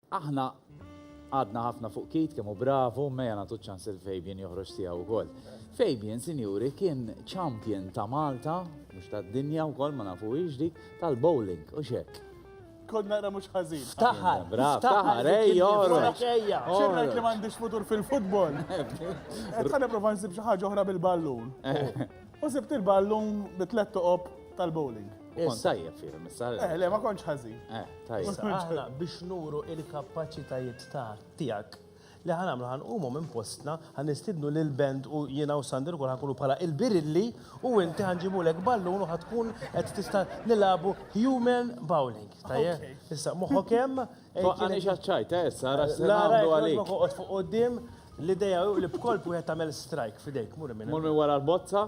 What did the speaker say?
Aħna għadna ħafna fuq Keith kemm hu bravu, mejja nagħtu ċans lil Fabian joħroġ tiegħu wkoll. Fabian, sinjuri, kien champion ta' Malta, mhux tad-dinja wkoll ma nafu dik, tal-bowling u xek. Kod naqra mhux ħażin. Taħar, bravo, taħar, ej, joħroġ. Xirra li m'għandix futur fil-futbol. Qed nipprova nsib xi ħaġa oħra bil-ballun. U sibt il-ballun bi tliet toqob tal-bowling. Sajja fihom, issa. Eh, le, ma konċ ħazi. Eh, tajja. Aħna biex nuru il-kapacitajiet ta' tijak li ħan għamlu ħan umu minn postna ħan istidnu l band u jina u Sander kol ħan kunu pala il-birilli u inti ħan ġibu l ballun u ħatkun għed tista nilabu human bowling. Tajja, issa muħokem. Għani xaċċajt, eh, issa għara s-sandu għalik. Fuq u dim l-ideja li bkolb u għed tamel strike fidejk, mur minn. Mur minn wara l-bozza?